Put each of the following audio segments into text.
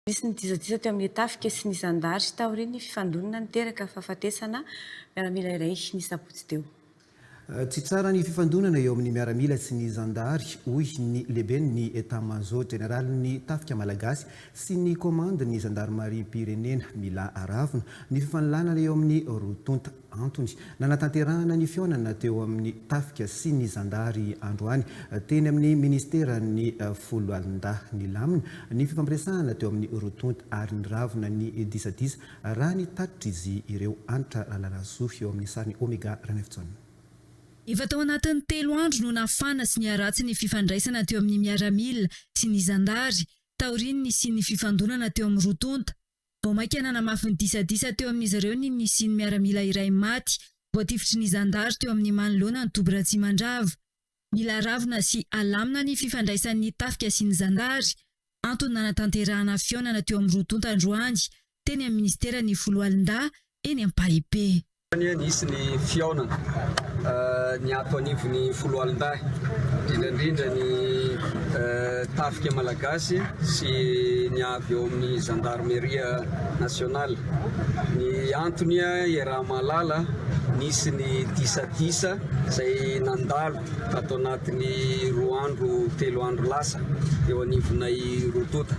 Nisy ny disadisa teo amin'ny tafika sy ny zandary taorian'ny fifandonana niteraka fahafatesana miaramila iray ny sabotsy teo. Tsy tsara ny fifandonana eo amin'ny miaramila sy ny zandary, hoy ny lehiben'ny Etat-major jeneralin'ny tafika malagasy sy ny komandin'ny zandarimariam-pirenena. Mila aravona ny fifanolanana eo amin'ny roa tonta. Antony nanatanterahana ny fihaonana teo amin'ny tafika sy ny zandary androany teny amin'ny Ministeran'ny Foloalindahy. Nilamina ny fifampiresahana teo amin'ny roa tonta ary niravona ny disadisa raha ny tatitr'izy ireo. Hanitra Ralalasoa eo amin'ny sarin'i Omega Ranaivojaona. Efa tao anatin'ny telo andro no nafana sy niharatsy ny fifandraisana teo amin'ny miaramila sy ny zandary taorian'ny nisian'ny fifandonana teo amin'ny roa tonta. Vao mainka nanamafy ny disadisa teo amin'izy ireo ny nisian'ny miaramila iray maty voatifitry ny zandary teo amin'ny manoloana ny toby Ratsimandrava. Mila ravina sy alamina ny fifandraisan'ny tafika sy ny zandary, antony nanatanterahana fihaonana teo amin'ny roa tonta androany teny amin'ny minisiteran'ny Foloalindahy eny Ampahibey. Tany nisy ny fihaonana ny ato anivon'ny foloalindahy, indrindra indrindra ny tafika malagasy sy ny avy ao amin'ny Gendarmerie nationale. Ny antony iaraha-mahalala, nisy ny disadisa izay nandalo. Tato anatin'ny roa andro, telo andro lasa, eo anivonay roa tonta,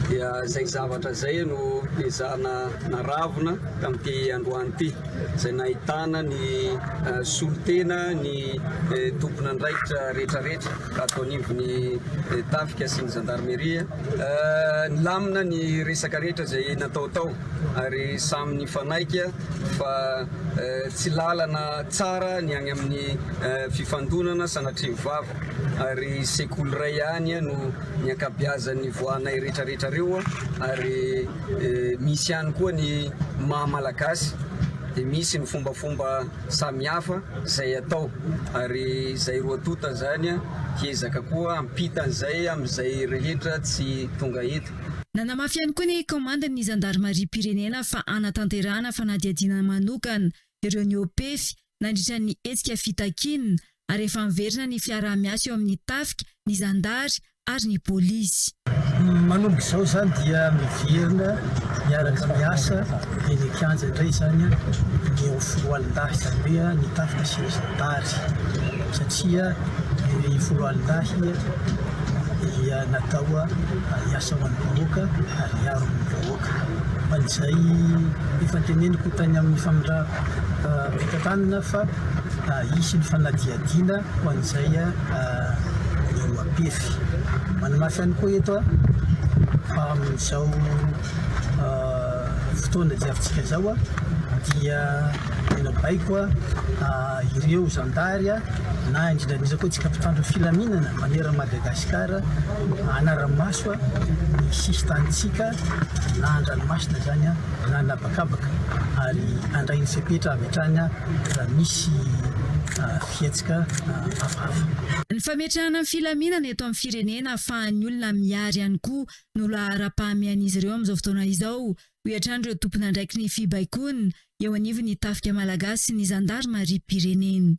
dia izay zavatra izay no ezahana naravona tamin'ity androany ity, izay nahitana ny solontena ny tompon'andraikitra rehetrarehetra tato anivon'ny Tafika sy ny Zandarmeria. Nilamina ny resaka rehetra izay natao tao. ary samy nifanaiky fa tsy lalana tsara ny any amin'ny fifandonana sanatria mivava ary sekoly iray ihany no ny ankabiazan'ny voanay rehetra rehetra reo ary misy ihany koa ny maha malagasy dia misy ny fombafomba samihafa izay atao ary izay roa tonta izany hiezaka koa hampitan'izay amin'izay rehetra tsy tonga eto Nanamafy ihany koa ny kaomandin'ny zandarimariam-pirenena fa hanatanterahana fanadihadiana manokana ireo niopefy nandritra ny hetsika fitakiana ary efa miverina ny fiaraha-miasa eo amin'ny tafika, ny zandary ary ny polisy. Manomboka izao izany dia miverina miaraka miasa eny an-kianja indray izany ny eo Foroalindahy, izany hoe ny tafika sy ny zandary. satria ny foloalindahy dia natao hiasa ho an'ny vahoaka ary hiaro ny vahoaka fa izay efa teneniko tany amin'ny famindram-pitantanana fa hisy ny fanadihadiana ho an'izay eo am-pefy. Manamafy ihany koa eto fa amin'izao fotoana diavintsika izao dia Tena baiko ireo zandary na indrindra indrindra koa antsika mpitandro filaminana manerana Madagasikara hanara-maso ny sisin-tanintsika na an-dranomasina izany na ny habakabaka ary handray ny fepetra avy hatrany raha misy fihetsika hafahafa. Ny fametrahana ny filaminana eto amin'ny firenena ahafahan'ny olona mihary ihany koa no laharam-pahamehan'izy ireo amin'izao fotoana izao. Hoy hatrany ireo tompon'andraiki ny fibaikoana eo anivon'ny Tafika Malagasy sy ny Zandarimariam-pirenena.